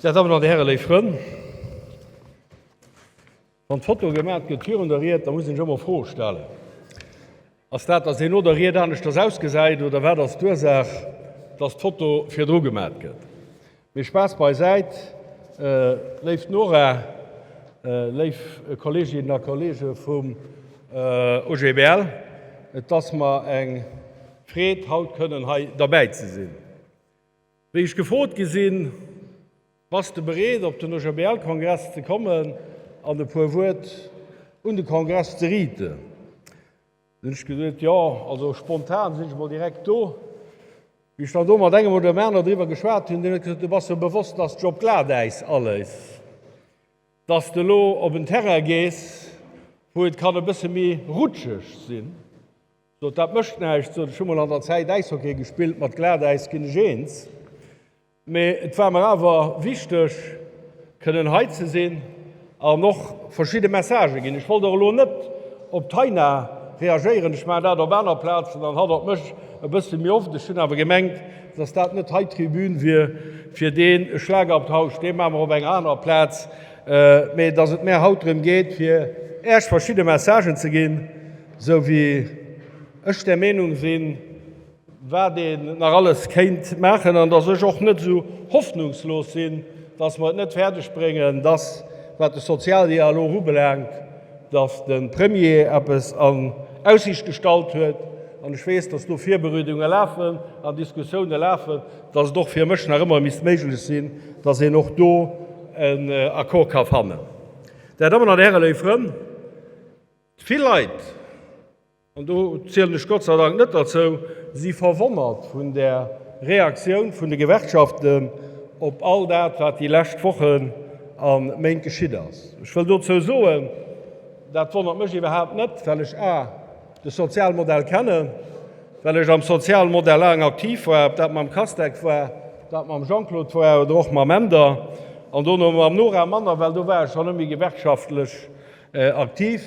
Där Dammen an Där Hären, léif Frënn, wann d'Foto gemat gëtt virun der Ried, da muss een sech ëmmer Froe stellen. Ass dat dass een no der Ried aneschters ausgesäit oder wat ass d'Ursaach dass d'Foto virdru gemat gëtt? Mee Spaass beisäit, léif Nora, léif Kolleeginnen a Kolleege vum OGBL, et ass mer eng Freed haut kënnen hei derbäi ze sinn. Wéi ech gefrot gi sinn, Bass de bereet op den OGBL-Kongress ze kommen an e puer Wuert un de Kongress ze riiten? Dann hunn ech gesot, Jo, also spontan sinn ech emol direkt do. Wéi ech dann do mat engem oder dem aner driwwer geschwat hunn, deen huet gesot, Du bass jo bewosst, dass d'Job Glatäis alles, dass de elo op en Terrain gees, wou et kann e bësse méi rutscheg sinn. Sot, dat mécht näischt. Sot, ech hu mol an der Zäit Äishockey gespillt, mat Glatäis ginn ech eens. Mee et war mer awer wichteg, kënnen hei ze sinn an och verschidde Messagë ginn. Ech wollt och elo net op d'Taina reagéieren, ech maachen dat op aner Plazen an hatt op mech e bësse méi oft. Ech hunn awer gemengt, datt dat net hei d'Tribün wier fir deen e Schlagabtausch, dee maache mer op enger anerer Plaz, mee datt et mär haut drëm geet, fir Äech verschidde Messagen ze ginn. Esou wéi ech där Meenung sinn, wat een nach alles kéint maachen, an datt ech och net esou hoffnungslos sinn, datt mer et net fäerdeg bréngen, datt, wat de Sozialdialog ubelaangt, datt de Premier eppes an Aussicht gestallt huet, an ech weess, datt do Virbereedunge lafen an Diskussioune lafen, datt et och fir mech nach ëmmer misst méiglech sinn, datt een och do en Accord ka fannen. Där Dammen an Där Hären, léif Frënn, Vill Leit, an do zielen ech Gott sei Dank net derzou, si verwonnert vun der Reaktioun vun de Gewerkschaften op all dat, wat déi lescht Wochen a Méint geschitt ass. Ech wëll dozou soen, dat wonnert mech iwwerhaapt net, well ech A, de Sozialmodell kennen, well ech am Sozialmodell laang aktiv war, ob dat mam Castec war, ob dat mam Jean-Claude war oder och mam Änder an dono mam Nora Manner, well do war ech schonn ëmmer gewerkschaftlech Aktiv.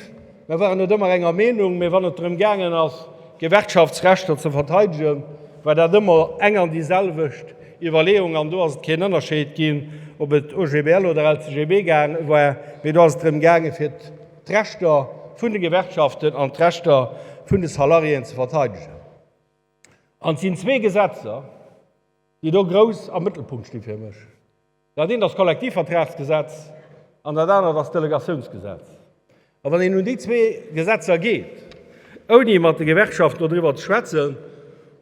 Mer waren net ëmmer enger Meenung, mee wann et drëm gaangen ass, Gewerkschaftsrechter ze verteidegen, war dat ëmmer eng an déi selwecht Iwwerleeung. An do ass et keen Ënnerscheed ginn, ob et OGBL oder LCGB war, mee do ass et drëm gaangen, fir d'Rechter vun de Gewerkschaften an d'Rechter vun de Salariéen ze verteidegen. An et sinn zwee Gesetzer, déi do grouss am Mëttelpunkt sti fir mech. Dat eent ass d'Kollektivvertragsgesetz an dat anert ass d'Delegatiounsgesetz. A wann een un déi zwee Gesetzer geet, ouni mat de Gewerkschaften doriwwer ze schwätzen,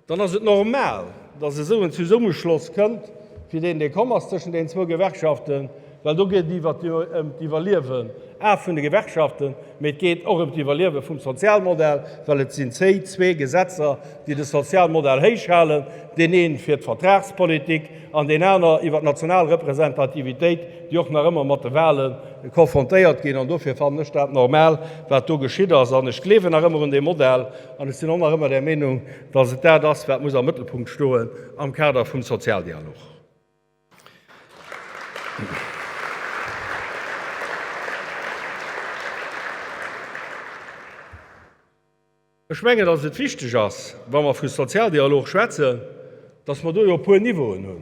dann ass et normal, datt esou en Zesummeschloss kënnt, fir deen dee komm ass tëschent deenen zwou Gewerkschaften, well do geet et jo ëm d'Iwwerliewen, a vun de Gewerkschaften, mee et geet och ëm d'Iwwerliewe vum Sozialmodell, well et sinn déi zwee Gesetzer, déi de Sozialmodell héichhalen, deen ee fir d'Vertragspolitik, an deen aner iwwer d'national Representativitéit, déi och nach ëmmer mat de Wahle konfrontéiert ginn. An dofir fannen ech dat normal, wat do geschitt ass. An ech gleewen nach ëmmer un dee Modell an ech sinn och nach ëmmer der Meenung, dass et dat ass, wat muss am Mëttelpunkt stoen am Kader vum Sozialdialog. Ech mengen, dass et wichteg ass, wa mer vu Sozialdialog schwätzen, dass mer do jo e puer Niveauen hunn.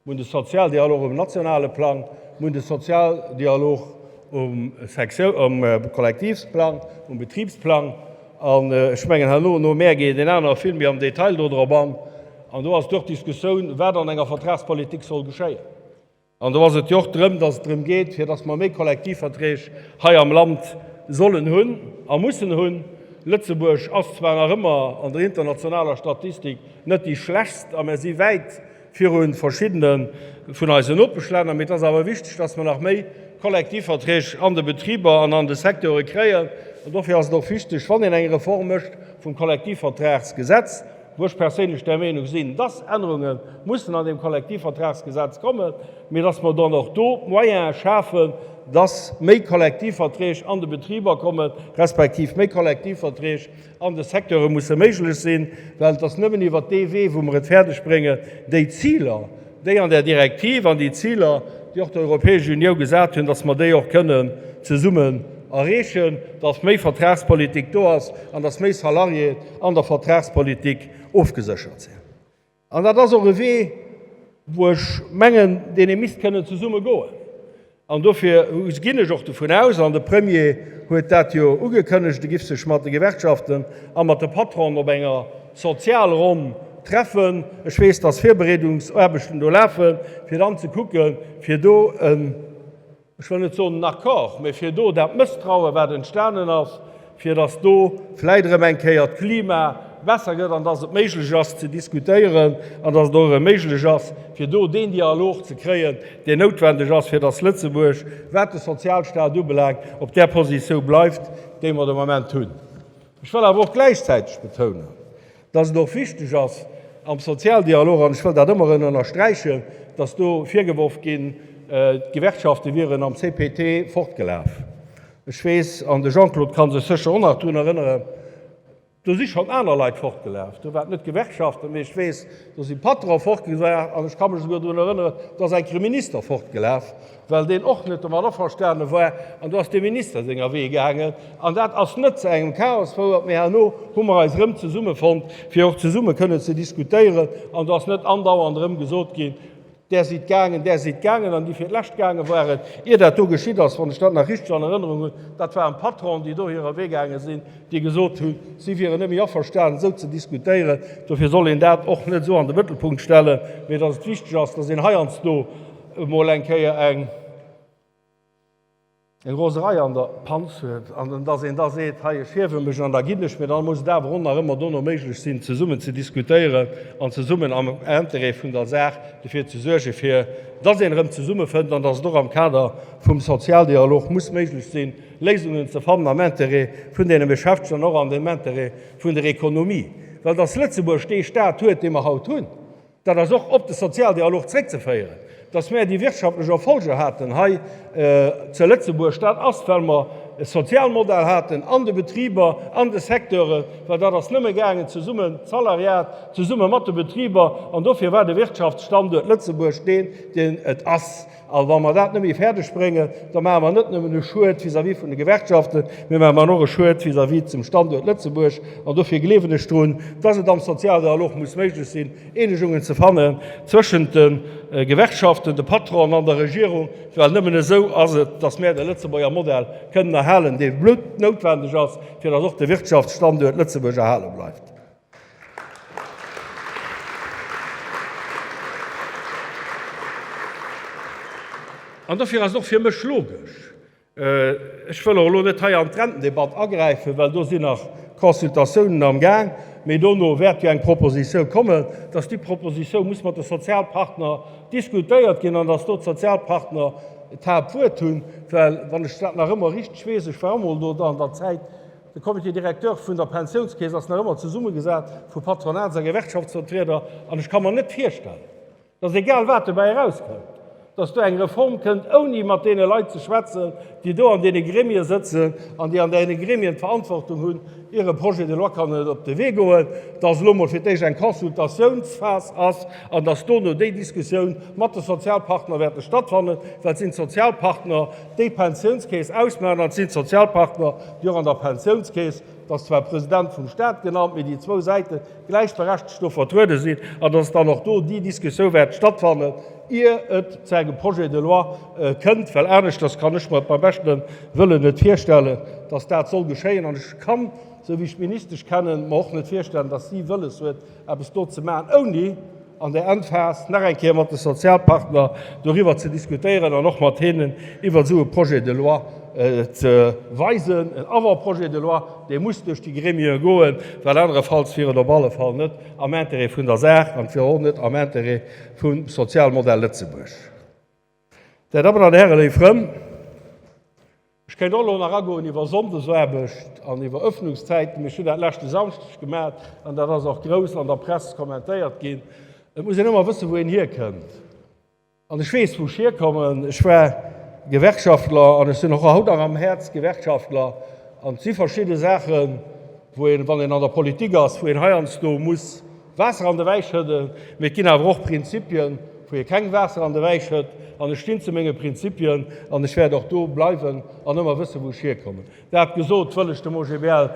Mer hunn de Sozialdialog um nationale Plang, mer hunn de Sozialdialog um Sektio-, um Kollektivsplang, um Betribsplang. An ech mengen, herno no Mäer geet een aner vill méi am Detail do drop an. An do ass et och d'Diskussioun, wat an enger Vertragspolitik soll geschéien. An do ass et jo och drëm, dass et drëm geet, fir dass mer méi Kollektivverträg hei am Land sollen hunn a mussen hunn. Lëtzebuerg ass zwar nach ëmmer an der internationaler Statistik net déi schlechtst a mer si wäit viru verschiddene vun eisen Nopeschlänner, mee et ass awer wichteg, dass mer nach méi Kollektivverträg an de Betriber an an de Secteure kréien. An dofir ass et och wichteg, wann een eng Reform mécht vum Kollektivvertragsgesetz, wou ech perséinlech der Meenung sinn, dass Ännerunge mussen an deem Kollektivvertragsgesetz kommen, mee dass mer dann och do d'Moyene schafen, dass méi Kollektivverträg an de Betriber kommen, respektiv méi Kollektivverträg an de Secteure musse méiglech sinn, well et ass nëmmen iwwert dee Wee, wou mer et fäerdegbréngen, déi Ziler, déi an där Direktiv an déi Ziler, déi och d'Europäesch Uniou gesat hunn, dass mer déi och kënnen zesummen erreechen, dass méi Vertragspolitik do ass an dass méi Salariéen an der Vertragspolitik ofgeséchert sinn. An dat ass och e Wee, wou ech mengen, deen ee misst kënnen zesumme goen. An dofir ginn ech och dovun aus, an de Premier huet dat jo ugekënnegt, e giff sech mat de Gewerkschaften a mat de Patronen op enger Sozialronn treffen. Ech weess, dass Virbereedungsaarbechten do lafen, fir dann ze kucken, fir do en, ech wëll net soen en Accord, mä fir do dat Mësstrauen, wat entstanen ass, fir dass do vläit erëm eng Kéier d'Klima besser gëtt an dass et méiglech ass ze diskutéieren an dass et och erëm méiglech ass, fir do deen Dialog ze kréien, deen noutwendeg ass, fir dass Lëtzebuerg, wat de Sozialstaat ubelaangt, op där Positioun bleift, déi mer de Moment hunn. Ech wëll awer och gläichzäiteg betounen, dass et och wichteg ass am Sozialdialog, an ech wëll dat ëmmer erëm ënnersträichen, dass do virgeworf ginn, d'Gewerkschafte wieren am CPT fortgelaf. Ech weess, an de Jean-Claude ka sech sécher och nach drun erënneren, do si schonn aner Leit fortgelaf, do war et net d'Gewerkschaften, mee ech weess, do si Patron'e fortgelaf, an ech ka mech esouguer drun erënneren, do ass enker e Minister fortgelaf, well deen och net domat averstane war, an do ass dem Minister senger Wee gaangen, an dat ass net zu engem Chaos fouert. Mee herno hu mer eis erëm zesummefonnt, fir och zesumme kënnen ze diskutéieren, an do ass net andauernd erëm gesot ginn, Där sidd gaangen, där sidd gaangen, an déi fir d'lescht gaange waren, ier dat do geschitt ass, wann ech dat nach richteg an Erënnerung hunn, dat waren d'Patronen, déi do hirer Wee gaange sinn, déi gesot hunn, si wieren net méi averstanen, esou ze diskutéieren. Dofir soll een dat och net esou an de Mëttelpunkt stellen, mee datt et wichteg ass, datt een heiansdo, emol eng Kéier eng Roserei an der Panz huet an dass een da seet, hei ech hiewe mech an da ginn ech mir, dann muss et awer och nach ëmmer dono méiglech sinn, zesummen ze diskutéieren an zesummen am Intérêt vun der Saach derfir ze suergen, fir dass een erëm zesummefënnt an dass et och am Kader vum Sozialdialog muss méiglech sinn, Léisungen ze fannen am Intérêt vun deene Beschäftegten an och am Intérêt vun der Économie. Well dass Lëtzebuerg dee Stat huet, dee mer haut hunn, Dat ass och op de Sozialdialog zréckzeféieren, dass mär déi wirtschaftlech Erfolger haten hei zu Lëtzebuerg, dat ass, well mer e Sozialmodell haten an de Betriber, an de Secteuren, well dat ass nëmme gaangen zesumme, d'Salariat zesumme mat de Betriber, an dofir war de Wirtschaftsstanduert Lëtzebuerg deen, deen et ass. A wa mer dat net méi fäerdeg bréngen, da maache mer net nëmmen e Schued vis-à-vis vun de Gewerkschaften, mee maache mer och e Schued vis-à-vis zum Standuert Lëtzebuerg. An dofir gleewen ech drun, dass et am Sozialdialog muss méiglech sinn, Eenegungen ze fannen zwëschent de Gewerkschaften, de Patronen an der Regierung, well nëmmen esou ass et, dass mer de Lëtzebuerger Modell kënnen erhalen, dee bluttnoutwendeg ass, fir dass och de Wirtschaftsstanduert Lëtzebuerg erhale bleift. An dofir ass et och fir mech logesch, ech wëll och elo net hei an d'Rentendebatt agräifen, well do sinn nach Consultatiounen am Gaang, mee dono wäert jo eng Proposition kommen, dass déi Proposition muss mat de Sozialpartner diskutéiert ginn an dass do d'Sozialpartner d'Haaptwuert hunn. Well wann ech dat nach ëmmer richteg weess, ech war och emol do an der Zäit, De Comité directeur vun der Pensiounskeess ass nach ëmmer zesummegesat vu Patronats a Gewerkschaftsvertrieder an ech ka mer net virstellen, dass egal wat dobäi erauskënnt, dass do eng Reform kënnt, ouni mat deene Leit ze schwätzen, déi do an deene Gremie sëtzen an déi an deene Gremien d'Verantwortung hunn, ier e Projet de loi kann op de Wee goen, dass elo emol fir d'éischt eng Consultatiounsphas ass an dass dono déi Diskussioun mat de Sozialpartner wäerte stattfannen, well et sinn d'Sozialpartner, déi d'Pensiounskeess ausmaachen, an et sinn d'Sozialpartner, déi och an der Pensiounskeess, et ass zwar e President vum Stat genannt, mee déi zwou Säite gläichberechtegt do vertruede sinn, an datt dann och do déi Diskussioun wäert stattfannen, ier et zu engem Projet de loi kënnt, well aneschters kann ech mer beim beschte Wëllen net virstellen, datt dat soll geschéien. An ech kann, esou wéi ech d'Ministesch kennen, mer och net virstellen, datt si wëlles huet, eppes do ze maachen, ouni an där Endphas nach eng Kéier mat de Sozialpartner doriwwer ze diskutéieren an och mat hinnen iwwer esou e Projet de loi ze weisen, en Avant-projet de loi, dee muss duerch déi Gremien goen, well anerefalls wier et op alle Fall net am Intérêt vun der Saach an et wier och net am Intérêt vum Sozialmodell Lëtzebuerg. Där Dammen an Hären, léif Frënn, ech kéint och elo nach agoen iwwer Sonndesaarbecht an iwwer Öffnungszäiten, mee ech hunn dat leschte Samschdeg gemat an dat ass och grouss an der Press kommentéiert ginn. Et muss een ëmmer wëssen, wou een hierkënnt. An ech weess, wou ech hierkommen. Ech war Gewerkschaftler an ech sinn och haut nach am Häerz Gewerkschaftler. An et si verschidde Saachen, wou een, wann een an der Politik ass, wou een heiansdo muss Waasser an de Wäi schëdden, mee et ginn awer och Prinzipien, wou ee keng Waasser an de Wäi schëtt. An ech stinn zu menge Prinzipien an ech wäert och do bleiwen an ëmmer wësse wou ech hierkommen. Dat gesot, wëll ech dem OGBL.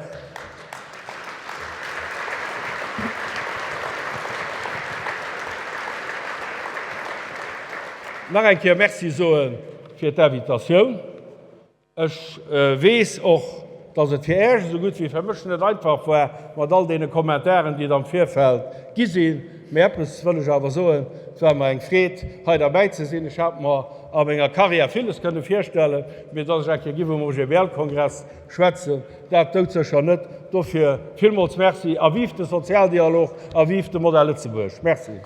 Nach eng Kéier Merci soe fir d'Invitatioun. Ech weess och, dass et fir Äech esou gutt wéi fir mech net einfach war mat all deene Kommentaren, déi et am Virfeld gi sinn. Mee eppes wëll ech awer soen, Et war mer eng Freed, hei derbäi ze sinn. Ech hat mer a menger Karriär villes kënne virstellen, mee dass ech eng Kéier giff um OGBL-Kongress schwätzen, dat doudsécher net. Dofir villmools Merci a vive de Sozialdialog a vive de Modell Lëtzebuerg! Merci.